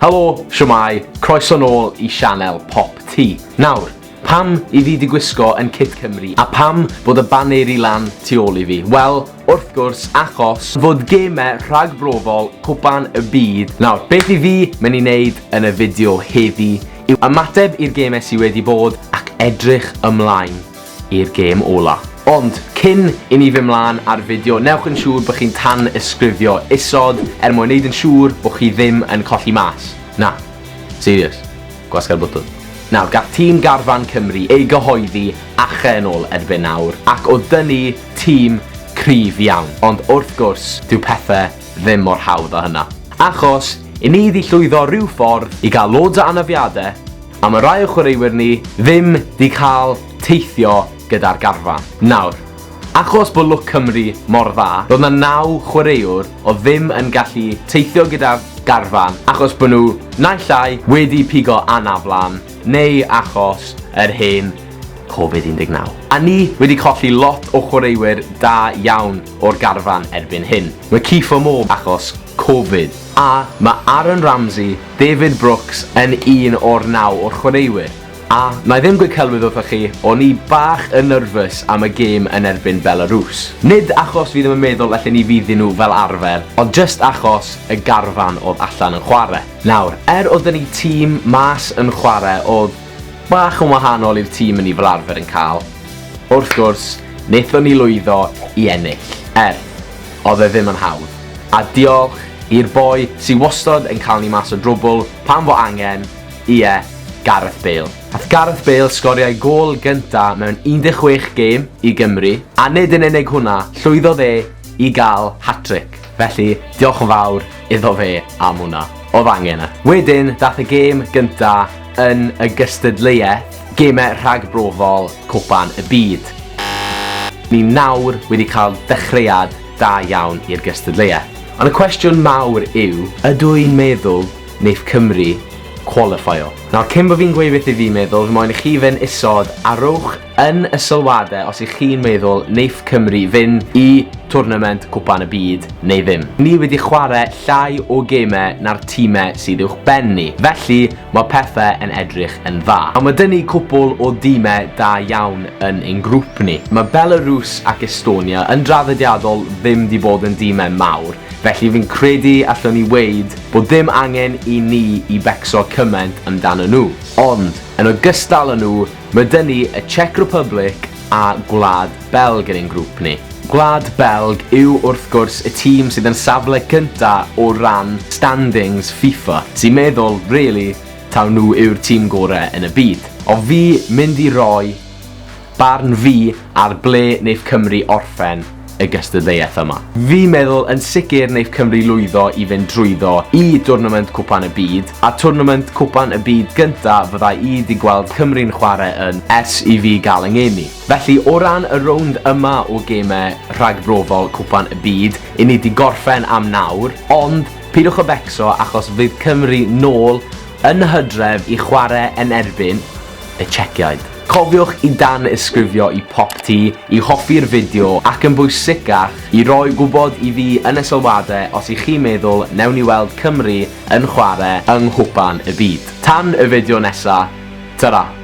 Helo, shwmae, croeso nôl i sianel Pop Ti. Nawr, pam i fi di gwisgo yn Kit Cymru a pam bod y baneri lan tu ôl i fi? Wel, wrth gwrs, achos fod geme rhagbrofol Cwpan y Byd nawr. Beth i fi mynd i neud yn y fideo heddi yw ymateb i'r geme sy wedi bod ac edrych ymlaen i'r gêm ola. Ond, cyn i ni fyn mlan a'r fideo, newch yn siŵr bod chi'n tan-ysgrifio isod er mwyn neud yn siŵr bod chi ddim yn colli mas. Na. Serious. Gwasga'r bwtwn. Nawr, gall tîm garfan Cymru ei gyhoeddi ache yn ôl erbyn nawr, ac o dynnu tîm cryf iawn. Ond wrth gwrs, dyw pethe ddim mor hawdd â hynna. Achos, i ni 'di llwyddo ryw ffordd i gael loads o anafiade, A mae rhai o chwaraewyr ni ddim 'di cael teithio gyda'r garfan. Nawr, achos bod lwc Cymru mor dda, roedd 'na naw chwaraewr oedd ddim yn gallu teithio gyda'r garfan achos bod nhw naill ai wedi pigo anaflan neu achos yr hen Covid 19. A ni wedi colli lot o chwaraewyr da iawn o'r garfan erbyn hyn. Mae Kiefer Moore achos Covid, a mae Aaron Ramsey David Brooks yn un o'r naw o'r chwaraewyr, a, na i ddim gweud celwydd wrthoch chi, o'n i bach yn nyrfys am y gêm yn erbyn Belarws. Nid achos fi ddim yn meddwl y lle ni fydd i nhw fel arfer, ond jyst achos y garfan oedd allan yn chwarae. Nawr, er oedd 'da ni tîm mas yn chwarae oedd bach yn wahanol i'r tîm y ni fel arfer yn cael, wrth gwrs, wnaethon ni lwyddo i ennill, er, Oedd e ddim yn hawdd. A diolch i'r boi sy wastod yn cael ni mas o drwbwl pan fo angen, ie, Gareth Bale. Ath Gareth Bale sgoriau gôl gynta mewn 16 gêm i Gymru, a nid yn unig hwnna, llwyddodd e i gael hat-tric. Felly, diolch yn fawr iddo fe am hwnna. Oedd angen e. Wedyn, dath y gêm gynta yn y gystadleuaeth, Gemau rhagbrofol Cwpan y Byd. Ni nawr wedi cael dechreuad da iawn i'r gystadleuaeth. Ond y cwestiwn mawr yw, ydw i'n meddwl neith Cymru cwalifeio? Nawr, cyn bo fi'n gweud beth i fi meddwl, fi moyn i chi fyn isod a rowch yn y sylwade os i chi'n meddwl neith Cymru fyn i twrnament Cwpan y Byd neu ddim. Ni wedi chwarae llai o gemau na'r time sydd uwch ben ni, felly, Mae pethe yn edrych yn dda. A ma 'da ni cwpwl o dîme da iawn yn ein grŵp ni. Mae Belarus ac Estonia yn draddodiadol ddim 'di bod yn dîme mawr, felly fi'n credu allwn ni weud bod dim angen i ni i becso cymaint amdanyn nhw. Ond, yn ogystal â nhw, Mae dŷ ni y Czech Republic a Gwlad Belg yn ein grŵp ni. Gwlad Belg yw wrth gwrs y tîm sydd yn safle cynta o ran standings FIFA, sy'n meddwl really taw nhw yw'r tîm gore yn y byd. O fi mynd i roi barn fi ar ble neith Cymru orffen, y gystadleuaeth yma. Fi'n meddwl yn sicr neith Cymru lwyddo i fynd drwyddo i dwrnament Cwpan y Byd, a twrnament Cwpan y Byd gynta fydda i 'di gweld Cymru'n chware yn ers i fi gael 'y ngeni. Felly, o ran y rownd yma o gemau rhagbrofol Cwpan y Byd, 'yn ni 'di gorffen am nawr, ond pidwch â becso achos fydd Cymru nôl yn y hydref i chware yn erbyn y Czechiaid. Cofiwch i danysgrifio i Popty i hoffi'r fideo ac yn bwysicach, i roi gwybod i fi yn y sylwadau os y'ch chi'n meddwl newn ni weld Cymru yn chwarae yng Nghwpan y Byd. Tan y fideo nesa, tara!